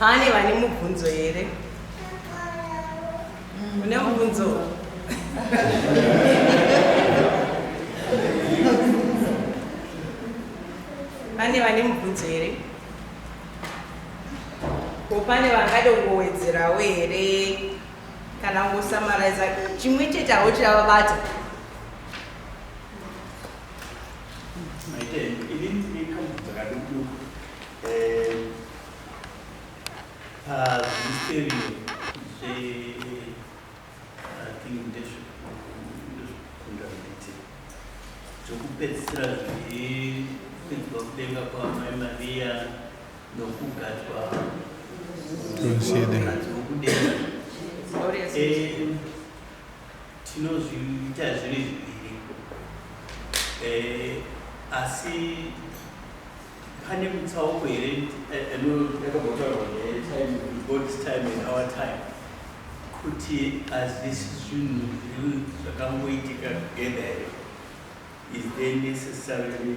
pane vane mubvunzo here une mubvunzo pane vane mubvunzo here ko pane vangade kungowedzerawo here kana ungosamaraiza chimwe chete awo chavabata zvokupedzisira zviri kuidzwa kudenga kwamai mariya tinozviita zviri zviviri eh, asi pane mutsauko here yakabhotaurwa god's time and our time kuti hazvisi zvinhu zviri zvakangoitika together here is there necessarily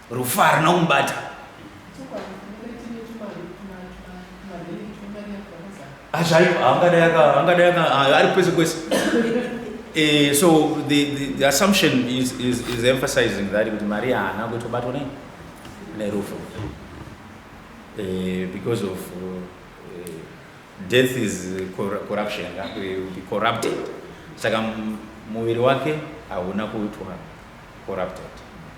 Rufu harina kumubata. Hazvayo, ah, angadai aka, angadai aka, ah, ari kwese kwese. Eh, so the, the, the assumption is, is, is emphasizing that kuti Maria haana kutobatwa nei nerufu eh, because of uh, death is corruption be corrupted saka muviri wake hauna kuitwa corrupted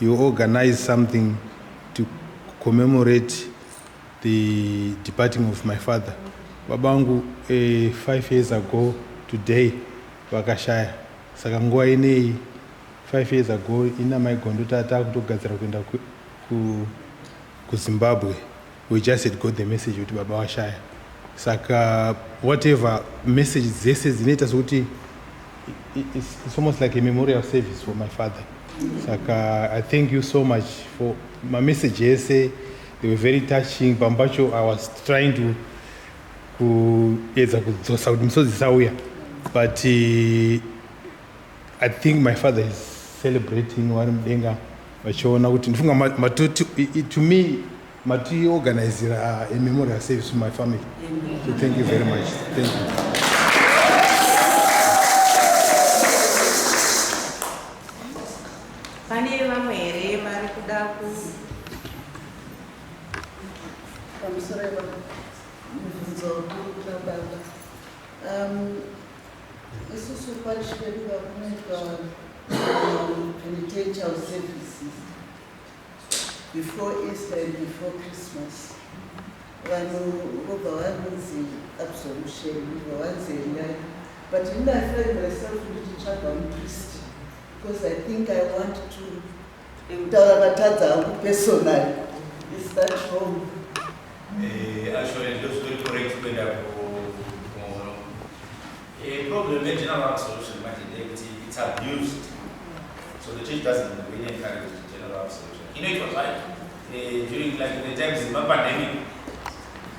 You organize something to commemorate the departing of my father. Baba vangu uh, five years ago today vakashaya, saka nguva ineyi five years ago ina maigondo tata kutogadzira kuenda ku, ku, kuZimbabwe. We just had got the message kuti baba washaya saka whatever message dzese dzinoita sokuti it's, it's almost like a memorial service for my father saka i thank you so much for my message ese they were very touching pamwe pacho i was trying to kuedza kudzosa kuti misodzi isauya but uh, I think my father is celebrating vari mudenga vachiona kuti ndifunga matoti to me matiorganizira uh, a memorial service to my family so thank you very much thank you Isusu parish pedu vakunoitwa penitential services before Easter and before Christmas. Vanhu vobva vanonzi absolution, vobva vanzi endai. But ini I find myself ndichitsvaga mupristi because I think I want to Ndikutaura vatadza hangu personal. Is that wrong? Eh, actually ndizvo zviri correct kuenda kumono. Eh, problem ye general absolution manje ndeyekuti it's abused. So the church doesn't really encourage general absolution. Inoitwa zvayo. Eh, during like the times ma pandemic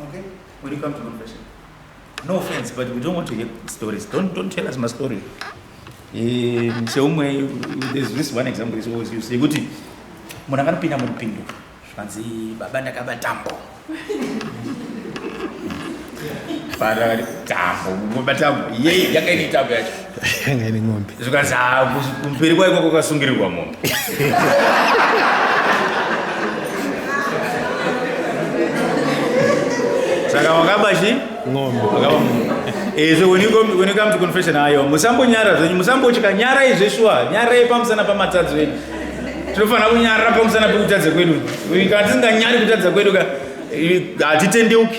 Okay? When you come to confession. No offense, but we don't want to hear stories. Don't, don't tell us my story. Eh, seumwe there's this one example is always used yekuti munhu akanopinda muripindu zvikanzi baba ndakaba tambo fara tambo baba tambo yei yakaine tambo yacho ngani ng'ombe zvikanzi ah, kus- kumberi kwaiko kwakasungirirwa mombe saka wakaba chi ng'ombe wakaba munhu Eh, so when you, come, when you come to confession ayo musambonyara zvenyu musambotya nyarai zveshuwa nyarai pamusana pamatadzi venyu tinofanira kunyarira pamusana pekutadza kwedu kana tisinganyari kutadza kwedu ka eh, hatitendeuki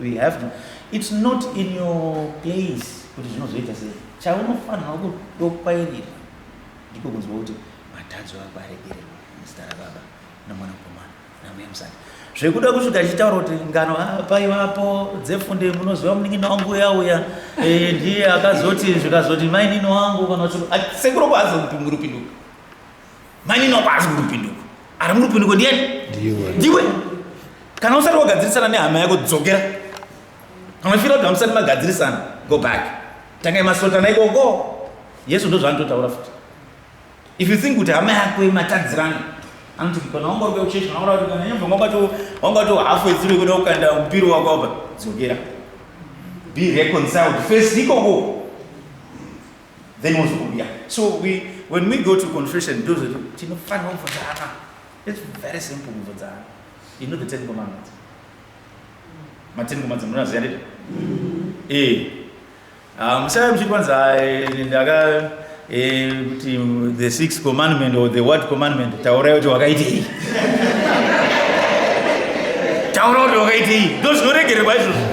We have to. It's not in your place kuti zvinozoita sei. Chaunofanirwa kudokwairira ndiko kunzwa kuti matadzo ako aregererwa muzita raBaba noMwanakomana naMweya Mutsvene. Zvekuda kusvika achitaura kuti ngano ah, paivapo dzefunde munoziva munin'ina wangu uya uya eh, ndiye akazoti zvikazoti mainini wangu kana kuti ah, sekuru kwaazopingurupinduka mainini wako haasi murupinduko ari murupinduko ndiyani ndiwe kana usati wagadzirisana nehama yako dzokera kana uchifira kuti hamusati magadzirisana go back tangai masotana ikoko yesu ndozvaanototaura futi if you think kuti hama yako imatadzirana anoti kana wanga uri kuchechi kana uri kana nyamba wanga to wanga to half way through kuda kukanda mpiro wako apa dzokera be reconciled first ikoko then wozobuda so we when we go to confession ndozvoti tinofanira kubvunzana its very simple kubvunzana you know the ten commandments maten commandments munoziva ndizvo ee musava muchiti kwanzi ndaka kuti the six commandment or the word commandment taurai kuti wakaitei taura kuti wakaitei ndozvinoregererwa izvozvo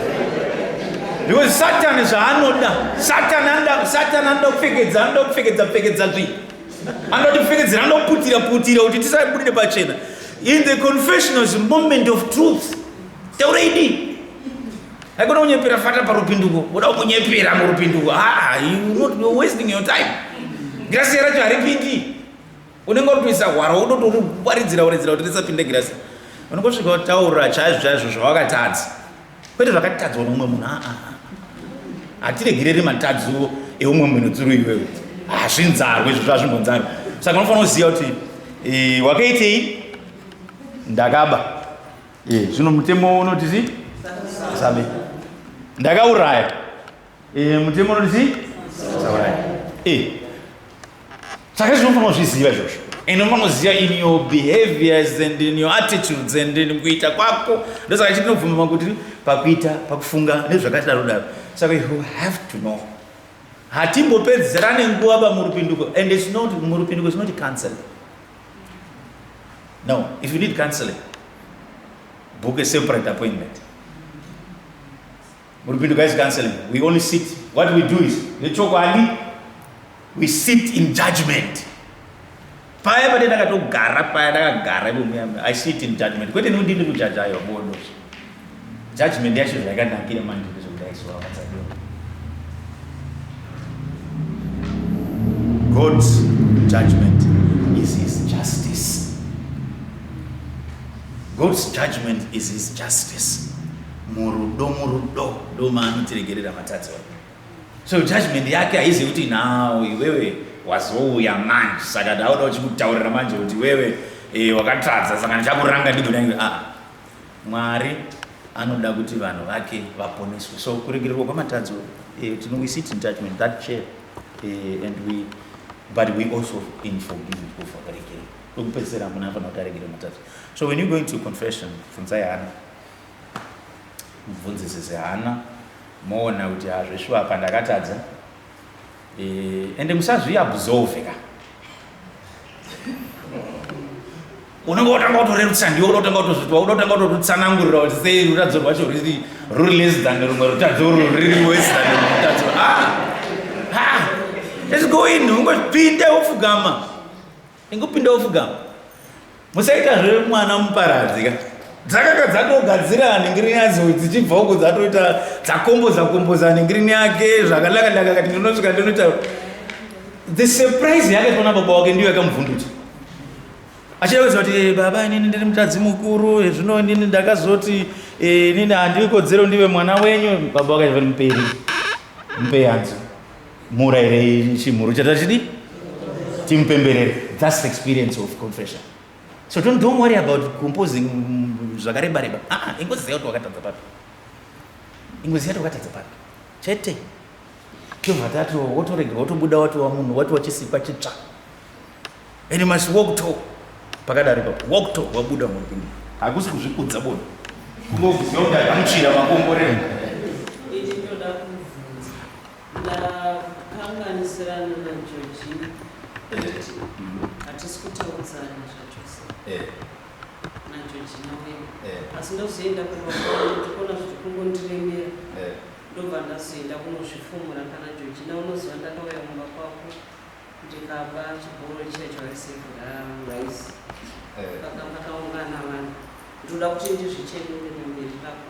because satani zvaanoda satani anoda satani anoda kupfekedza anoda kupfekedza pfekedza zvi anoda kutipfekedzera anoda kuputira putira kuti tisabudire pachena in the confessionals moment of truth taura idii haikona kunyepera fata parupinduko uda kumunyepera murupinduko haa ah, ah, you not wasting your time grasi yaracho haripindi unenge uri kuisa hwara wototi uri kukwaridzira woridzira kuti risapinde girasi unenge usvika wataura chaizvo chaizvo zvawakatadza kwete zvakatadzwa noumwe munhu aa hatiregereri matadzo eumwe munhu dzuru iwewe hazvinzarwe izvo zvazvimbonzarwe saka unofanira kuziva kuti e, wakaitei ndakaba e, zvino mutemo unoti zi sabe ndakauraya Eh, mutemo unoti chii? Saurayi. Eh. Saka izvi unofanira kuzviziva izvozvo. And unofanira kuziva in your behaviors and in your attitudes and in kuita kwako. Ndosaka chinobvuma kuti pakuita, pakufunga nezvakati daro daro. Saka you have to know. Hatimbopedzerane nguva bamurupinduko and it's not murupinduko it's not counseling. No, if you need counseling, book a separate appointment. Muripindu guys canceling. We only sit. What we do is, nechokwadi, we sit in judgment. Paya pade ndakatogara paya ndakagara ivo muya I sit in judgment. Kwete nekuti ndiri kujaja ayo bodo. Judgment yacho zvakanakira manje ndezvekudai so vakadzadiwa. God's judgment is his justice. God's judgment is his justice. murudo murudo ndomaanotiregerera matadzi wake so judgment yake haizi kuti now iwewe wazouya manje saka ndauda uchikutaurira manje kuti iwewe e, wakatadza saka ndichakuranga ndigonaiwe a ah, mwari anoda kuti vanhu vake vaponeswe so kuregererwa kwamatadzo e, eh, tino we sit in judgment that chair e, and we but we also in forgiving kufa karegerera kwekupedzisira hamuna afanira kuti aregere matadzo so when you going to confession funzai hana mubvunzisi zihana moona kuti hazveshuwa apa ndakatadza e, ende musazviabsorve ka unenge wotanga kutorerutsa ndiwo unotanga kutozvitwa unotanga kutotsanangurira kuti sei rutadzo rwacho ruri ruri less than rumwe rutadzo ruri wes than rumwe rutadzo ah, ah, let's go in ungozvipinde wofugama Ingopinda ufuga. Musaita zve mwana muparadzi ka. Dzakaka dzatogadzira ningiri yadzo dzichibva uko dzatoita dzakomboza komboza ningiri yake zvakanaka ndaka kati ndinosvika ndinoita the surprise yake tona baba wake ndiyo yakamuvhundutsa. Achida kuziva kuti eh, baba inini ndiri mutadzi mukuru eh, zvino inini ndakazoti eh, inini handikodzero ndive mwana wenyu baba wake zviri muperi. Mpeyanzo. murairei chimhuru chata chidi timupemberere thats the experience of confession so don't, don't worry about composing mm, zvakareba reba aa ah, ah, ingozi zaya kuti wakatadza papi ingozi yati wakatadza papi chete tovatatu wotoregera wotobuda watiwa munhu watiwa chisikwa chitsva and you must walk to pakadari pa walk to wabuda mupindi hakusi kuzvikudza bona kungokuziva kuti akamutsvira makomborero Ndakanganisirana na Georgina kuti hatisi kutaudzana zvachose Eh, na Georgina wedu. eh, Asi ndozoenda kumba kwangu ndikuona zviri kungondiremera. eh. ndobva ndazoenda kunozvifumura kana jojina unoziva ndakauya kumba kwako ndikaba chibhoro chiya chawaisekura rice Eh. pakanga pakaungana vanhu ndoda kuti ndizvichenure pamberi pako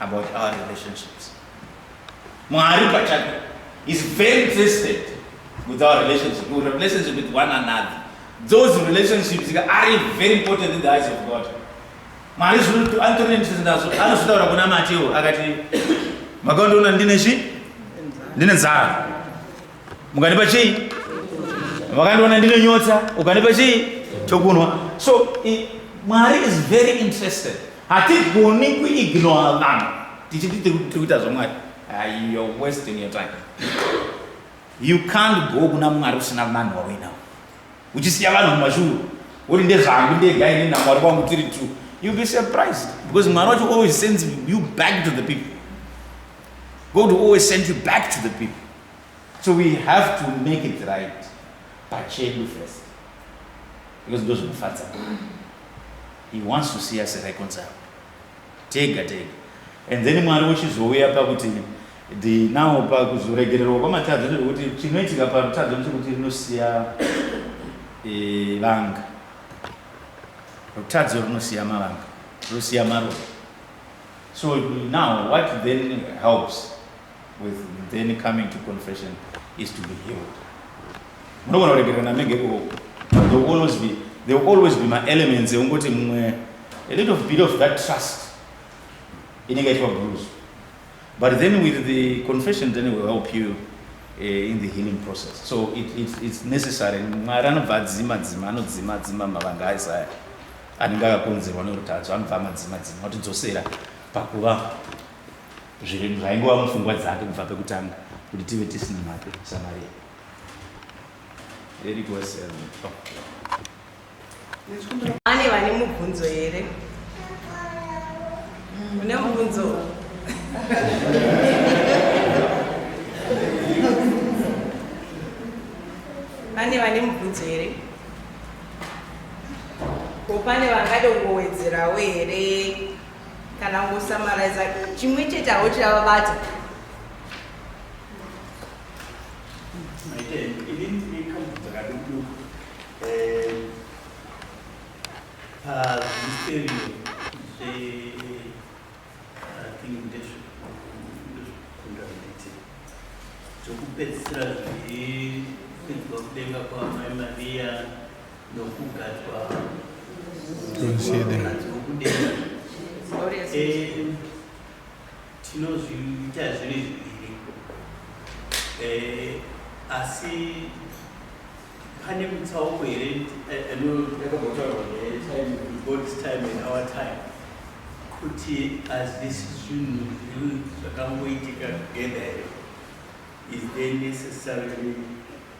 about our relationships. Mwari pachake is very interested with our relationship, with relationship with one another. Those relationships are very important in the eyes of God. Mwari zvinotu antorine interested nazvo anozvitaura kuna Mateo akati makaondoona ndine chi ndine nzara mukandipa chii makandiona ndine nyota ukandipa chii chokunwa so i, mwari is very interested Hatigoni kuignore vanhu tichiti tiri kuita zvamwari. Uh, you're wasting your time. You can't go kuna mwari usina vanhu wauinawo. Uchisiya vanhu mumashuru. Woti ndezvangu ndega ini namwari wangu tiri two. You'll be surprised because mwari wacho always sends you back to the people. God will always send you back to the people. So we have to make it right. Pachedu first. Because those are the facts. He wants to see us reconciled tega tega and then mwari wochizouya pakuti the now pakuzoregererwa kwamatadzo zvekuti chinoitika parutadzo ndechekuti rinosiya e, vanga rutadzo rinosiya mavanga rinosiya maroa so now what then helps with then coming to confession is to be healed munogona kuregerera namege ko there will always be there will always be maelements ekungoti mumwe a little bit of that trust inenge ichiva bruise but then with the confession then will help you uh, in the healing process so it, it, it's necessary mwari anobva adzima dzima anodzima dzima mavanga aisaya anenge akakonzerwa neurutadzo anobva amadzima dzima otidzosera pakuva zvaingova mupfungwa dzake kubva pekutanga kuti tive tisina mhake samaria ane vane mubvunzo here une mubvunzo pane vane mubvunzo here ko pane vangade kungowedzerawo here kana ungosamaraiza chimwe chete awo chiravabata zvokupedzisira zviri kuidzwa kudenga kwamai mariya tinozviita zviri zviviri eh, asi pane mutsauko here anoyakabotaurwa negod's time and our time kuti hazvisi zvinhu zviri zvakangoitika together here is there necessarily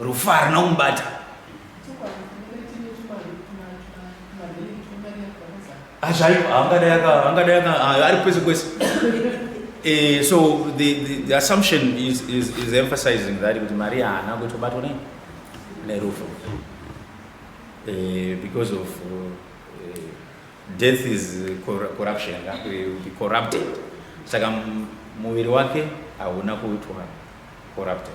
Rufu harina kumubata. Hazvaipo, angadai aka, angadai aka, ah, ari kwese kwese. Eh, so the, the, the assumption is, is, is emphasizing that kuti Maria haana kutobatwa nei nerufu eh, because of eh, death is cor- corruption yeah, we will be corrupted saka m- muviri wake hauna kuitwa corrupted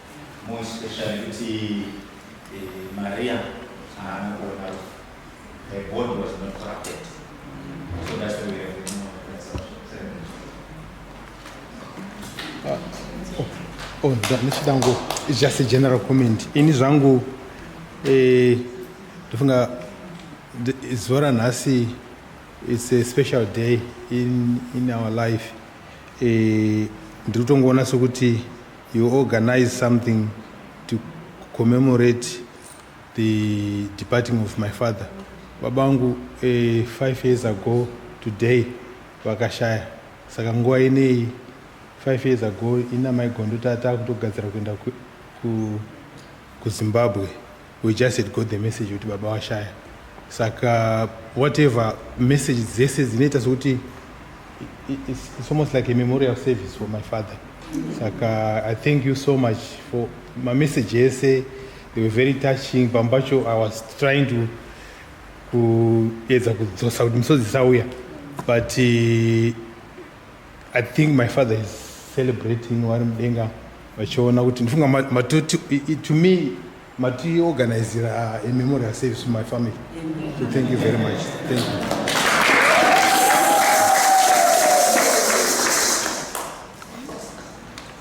more especially kuti eh, Maria haana kuona rufu. Her body was not corrupted. So that's why we have the more Oh, nda- ndichida ngo it's just a general comment ini zvangu eh, ndofunga th- zuva ranhasi it's a special day in, in our life eh, ndiri kutongoona sokuti You organize something to commemorate the departing of my father. Baba vangu eh, five years ago today vakashaya. Saka nguva ineyi five years ago ina maigondo tata kutogadzira kuenda ku, ku, kuZimbabwe. We just had got the message kuti baba washaya saka whatever message dzese dzinoita sokuti it's, it's almost like a memorial service for my father saka i thank you so much for my message ese they were very touching pamwe pacho i was trying to kuedza kudzosa kuti misodzi isauya but uh, I think my father is celebrating vari mudenga vachiona kuti ndifunga matoti to me matiorganizira a uh, memorial service to my family so thank you very much thank you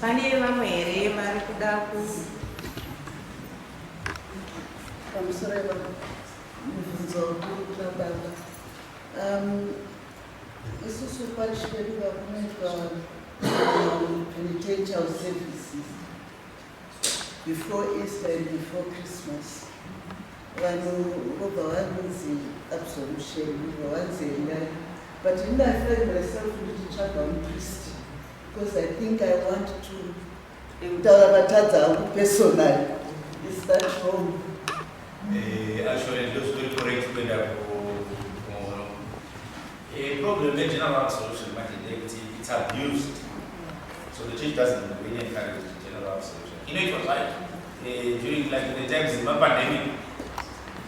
pane vamwe here vari kuda ku pamusoro mibvunzo kuri kuna baba um, Isusu parish pedu vakunoitwa um, penitential services before Easter and before Christmas. Vanhu vobva vanzi absolution, vobva vanzi endai. But in I find myself ndichitsvaga mupriest because I think I want to Ndikutaura vatadza hangu personal. Is that wrong? Eh, actually it looks good for it kuenda kuhono. Eh, problem ye general solution manje ndeyekuti it's abused. So the church doesn't really encourage the general solution. Inoitwa zvayo. Eh, during like the times of pandemic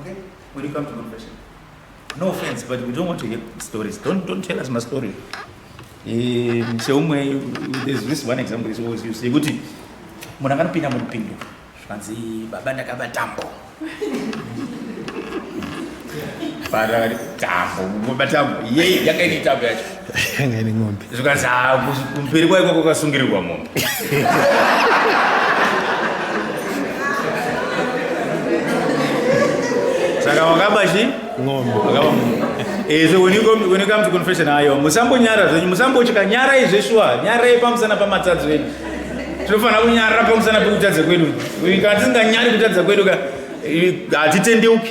Okay. When you come to confession. No offense, but we don't want to hear stories. Don't don't tell us my story. Eh, seumwe there's this one example is always used. Yekuti munhu akanopinda murupindu zvikanzi baba ndakaba tambo. Baba tambo, baba tambo. Yei yakaini tambo yacho. yanga ine mombe zvikanzi "Ah, kus- kumberi kwaiko kwakasungirirwa mombe saka wakaba chi ng'ombe wakaba mombe Eh, so when you, come, when you come to confession ayo musambonyara zvenyu musambotya nyarai zveshuwa nyarai pamusana pamatadzi venyu tinofanira kunyarira pamusana pekutadza kwedu kana tisinganyari kutadza kwedu ka eh, hatitendeuki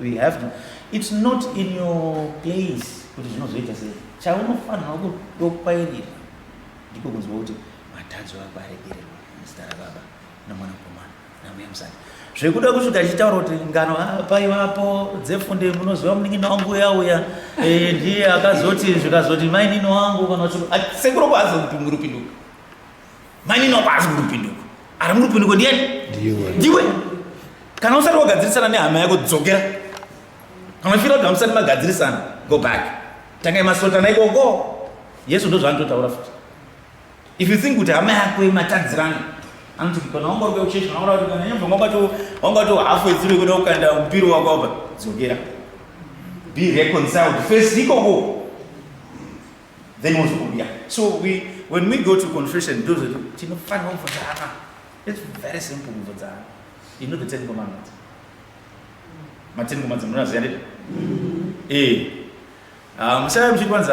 We have to. It's not in your place kuti zvinozoita sei. Chaunofanirwa kudokwairira ndiko kunzwa kuti matadzo ako aregererwa muzita rababa nomwanakomana namweya musati zvekuda kusvika achitaura kuti ngano ah, paivapo dzefunde munoziva munin'ina wangu uya uya eh, ndiye akazoti zvikazoti mainini wangu kana kuti ah, sekuru kwaazopingurupinduka Mainini wako haasi murupinduko. Ari murupinduko ndiani? Ndiwe. Ndiwe. Kana usati wagadzirisana nehama yako dzokera. Kana uchifira kuti hamusati magadzirisana, go back. Tangai masotana ikoko. Yesu ndozvaanototaura futi. If you think kuti hama yako imatadzirana, anoti kana wanga uri kuchechi kana uri kana nyamba wanga to wanga to half way through kuda kukanda mpiro wako apa dzokera. Be reconciled first ikoko. then wozokubuda so we when we go to confession ndozvoti tinofanira kuvodzana its very simple kuvodzana you know the ten commandments maten commandments munoziva ndizvo ee musava muchiti kwanzi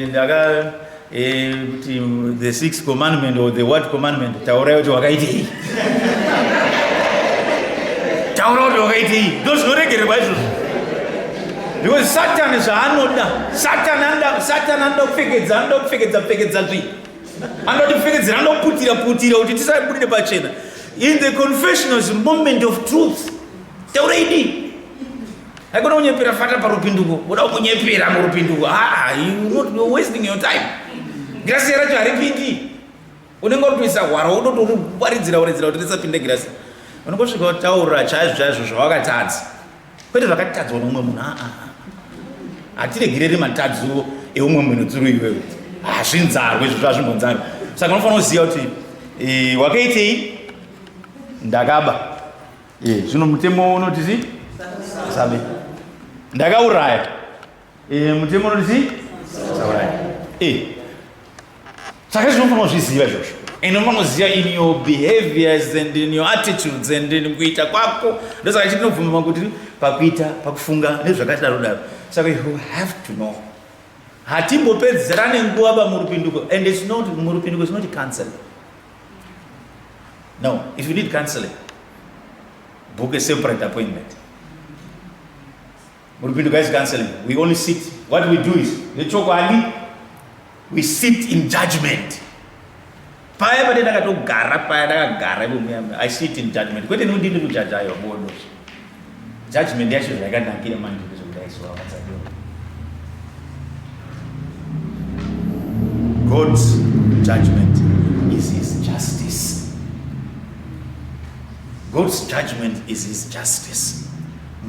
ndaka kuti eh, the six commandment or the what commandment taurai kuti wakaitei taura kuti wakaitei ndozvinoregererwa izvozvo Because Satan is anoda. Satan anoda Satan anoda kupfekedza, anoda kupfekedza pfekedza zvi. Anoda kupfekedzera, anoda kuputira putira kuti tisabude pachena. In the confession is moment of truth. Taura idi. Haikona kunyepera fata parupinduko. Unoda kunyepera murupinduko. Ah, you not wasting your time. Grace racho haripindi. unenge utoisa hwara wototorivaridzira waridzira kuti risapinde girasi unongosvika wataura chaizvo chaizvo zvawakatadza kwete zvakatadzwa noumwe munhu aa hatiregereri matadzuro eumwe munhu dzuru iwewe hazvinzarwe izvo zvazvimbonzarwe saka unofanira kuziva kuti e, wakaitei ndakaba e, zvino mutemo unoti zi sabe ndakauraya Eh, mutemo unoti chii? Saurayi. Eh. Saka izvi unofanira kuzviziva izvozvo. And unofanira kuziva in your behaviors and in your attitudes and in kuita kwako. Ndosaka chinobvuma kuti pakuita, pakufunga nezvakadaro daro. Saka you have to know. Hatimbopedzerane nguva ba murupinduko and it's not murupinduko it's not counseling. No, if you need counseling, book a separate appointment. Muripindu guys counseling we only sit what we do is nechokwadi we sit in judgment paya pate ndakatogara paya ndakagara ivomuya i sit in judgment kwete nekuti ndiri kujaja iyo bodo judgment yacho zvaikanakira manje ndezvokudaisoamatsadio god's judgment is his justice god's judgment is his justice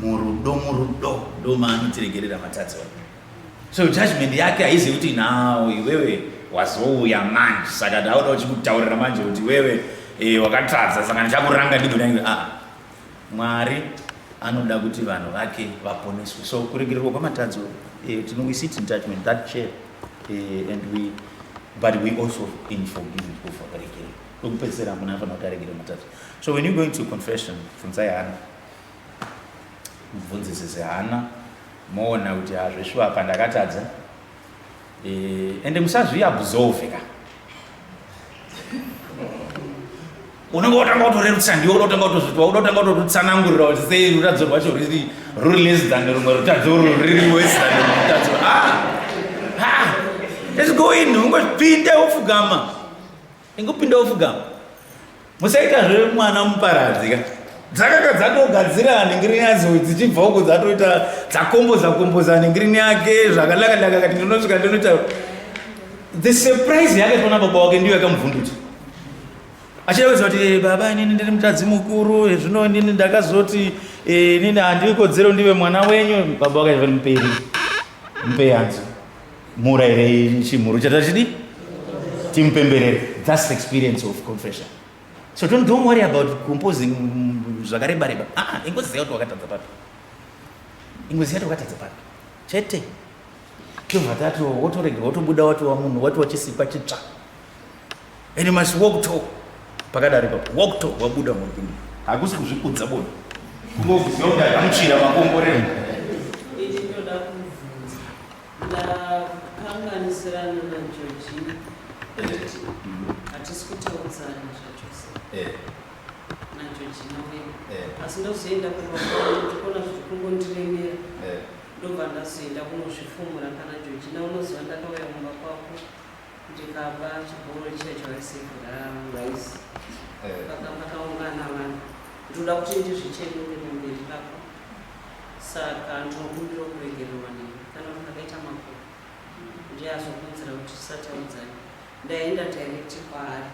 murudo murudo ndomaanotiregerera matadzi wake so judgment yake haizi kuti now iwewe wazouya manje saka ndauda uchikutaurira manje kuti iwewe e, wakatadza saka ndichakuranga ndigonai a ah, mwari anoda kuti vanhu vake vaponeswe so kuregererwa kwamatadzo e, eh, tino we sit in judgment that chair e, and we but we also in forgiving kufa kuregerera kwekupedzisira hamuna afanira kuti aregere matadzo so when you going to confession funzai hana mubvunzisi zihana moona kuti hazveshuwa apa ndakatadza e, ende musazviabsorve ka unenge wotanga kutorerutsa ndiwo unotanga kutozvitwa unotanga kutotsanangurira kuti sei rutadzo rwacho riri ruri less than rumwe rutadzo urwu riri wes than rumwe rutadzo ah! ah! let's go in ungozvipinde wofugama Ingopinda ufuga. Musaita zve mwana muparadzi ka. Dzakaka dzatogadzira ningiri yadzo dzichibva uko dzatoita dzakomboza komboza ningiri yake zvakanaka naka kati ndinosvika ndinoita the surprise yake tona baba wake ndiyo yakamuvhundutsa. Achida kuziva kuti eh, baba inini ndiri mutadzi mukuru eh, zvino inini ndakazoti eh, inini handikodzero ndive mwana wenyu baba wake zviri muperi. Mpeyanzo. murairei chimhuru chata chidi timupemberere thats the experience of confession so don't, don't worry about composing zvakareba reba ah, ingozi yauti wakatadza papi ingozi yati wakatadza papi chete tobva tati wotorega wotobuda watiwa munhu watiwa chisikwa chitsva and you must walk to pakadari papo walk to wabuda mupindi hakusi kuzvikudza bona kungokuziva kuti akamutsvira makomborero Ndakanganisirana naJorgina kuti hatisi kutaudzana zvachose eh. naJorgina wedu eh. asi ndozoenda kumakuona zviri kungondiremera eh. ndobva ndazoenda kunozvifumura kana Jorgina unoziva ndakauya kumba kwako ndikaba chibhoro checho aisevhura rice eh. pakapakaungana vanhu ndinoda kuti ndizvichenure pamberi pako saka ndinokumbira kuregererwa newe kana kuti akaita makuru ndiye azokuudzira kuti tisataudzani ndaenda direct kwaari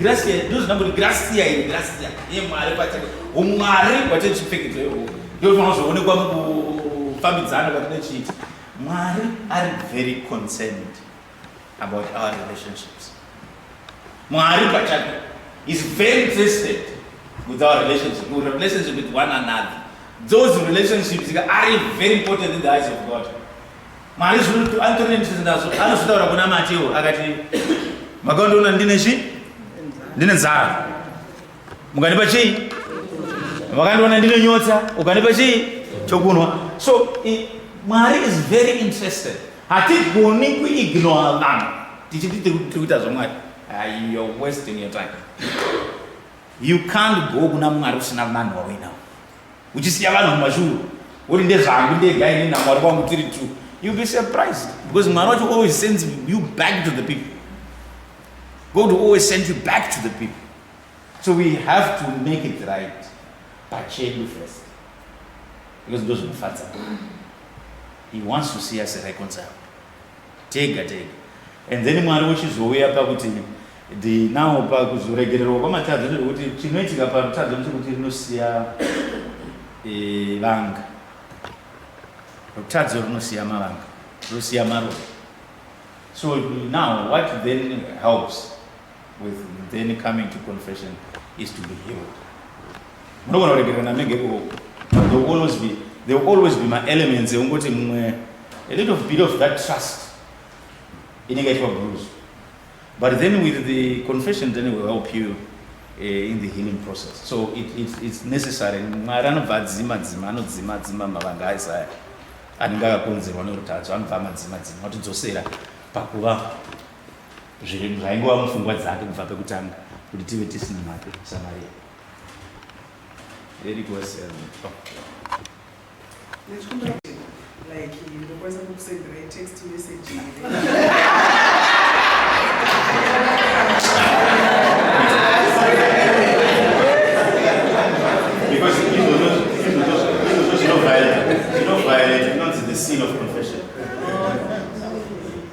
Gracia ndozvinamboti gracia iri gracia yemwari pachake umwari hwatee chipfekedzo ihoho ndofanira kuzoonekwa mukufambidzana kwatinochiita mwari ari very concerned about our relationships mwari pachake is very interested with our relationship with relationship with one another those relationships are very important in the eyes of god Mwari zvino anditori nendisi ndazvo anozvitaura kuna Mateo akati makaondoona ndine chi ndine nzara mukandipa chii vakandiona ndine nyotsa ukandipa chii chokunwa so i, mwari is very interested hatigoni kuignora vanhu tichiti tiri kuita zvamwari uh, you're wasting your time you can't go kuna mwari usina vanhu wauinawo uchisiya vanhu mumashuru woti ndezvangu ndega ini namwari wangu tiri two you'll be surprised because mwari wacho always sends you back to the people god will always send you back to the people so we have to make it right pachedu first because ndozvinofadza he wants to see us reconciled tega tega and then mwari wochizouya pakuti ndinawo pakuzoregererwa kwamatadzo zvekuti chinoitika parutadzo ndechekuti rinosiya e, vanga rutadzo rinosiya mavanga rinosiya maroa so now what then helps with then coming to confession is to be healed munogona kuregerana menge ikoko there will always be there will always be maelements ekungoti mumwe a little bit of that trust inenge itwa bruise but then with the confession then will help you uh, in the healing process so it, it, it's necessary mwari anobva adzima dzima anodzima dzima mavanga aisaya anenge akakonzerwa nerutadzo anobva amadzima dzima atidzosera pakuva zvinhu zvaingova mupfungwa dzake kubva pekutanga kuti tive tisina mhake samaria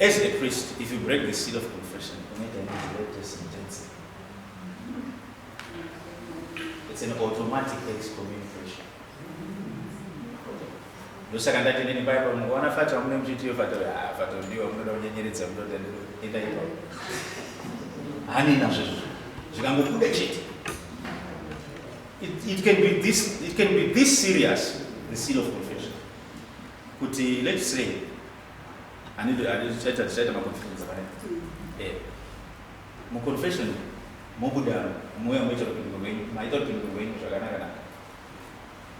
As a priest, if you break the seal of confession, unoita nedirect sentence. It's an automatic excommunication. ndosaka ndati nini paya pamukuona fati vamune muchitiyo fati ah, fati ndiwa munoda kunyenyeredza munoda enda ipa hani nazvo izvozvo zvikangobuda chete it, it, can be this, it can be this serious the seal of confession kuti let's say Ani ndo ani chaita chaita ma confession dzakadai. Eh. Mu confession mobuda moya moita kupindwa kwenyu, maita kupindwa kwenyu zvakanaka naka.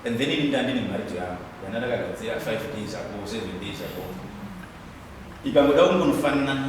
And then ini ndandi ne marriage yangu. Yana ndakagadzira 5 days ago, 7 days ago. Ikangoda kungonofanana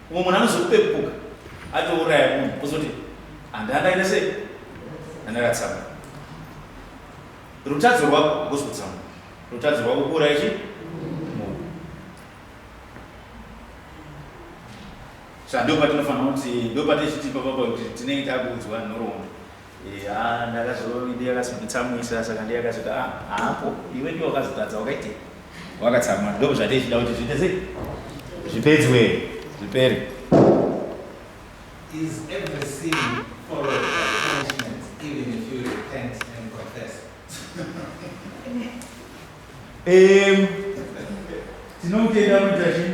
Umwe munhu anozokupepuka atouraya munhu ozoti handandaita sei andakatsamwa. Rutadzo rwako hakusi kutsamwa, rutadzo rwako kuuraya chii munhu. Saka ndopatinofanira kuti ndopatichiti papapo kuti tinenge takuudzwa nhoroondo. Yaa ndakazoti ndiye akazonditsamwisa saka ndiye akazoti ah haapo iwe ndiwe wakazotadza wakaitei? Wakatsamwa ndoo zvatei zvida kuti zviite sei? Zvipedzwe zvipere. Is every sin followed by punishment even if you repent and confess? Em tinomutenda anoita chii?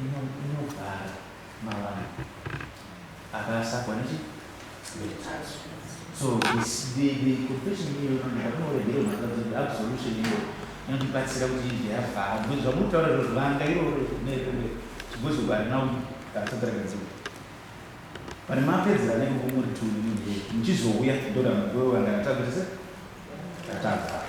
inovhara mavanga akasakwa nechi so the confession iyoyo ndakanoregera matadzi kuti absolution iyoyo inondibatsira kuti inge yavhara because zvamunotaura zviro zvivanga iroro nekunge chigozo varina katsatsarakadziko pane mapedzera nenge kumuri tuni muchizouya ndoda mukuwe wanga ndatakuti se tatavhara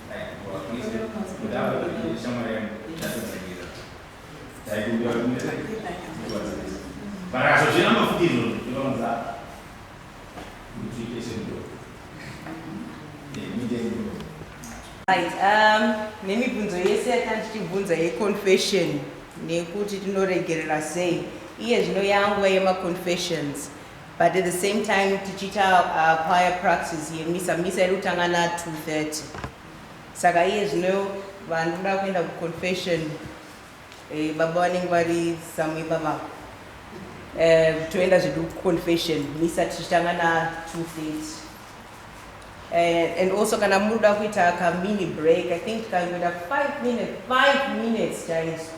Right, um, nemibvunzo yese yatandichibvunza yeconfession nekuti tinoregerera sei iye zvino yanguva yemaconfessions But at the same time tichiita uh, choir practice yemisa misa iri kutanga na 230 saka iye zvino vanhu kuda kuenda kuconfession eh, baba vanenge vari samwe baba eh, toenda zvedu kuconfession misa tichitanga na 230 Eh, and also kana muda kuita ka mini break i think kangoita 5 minutes 5 minutes chaizo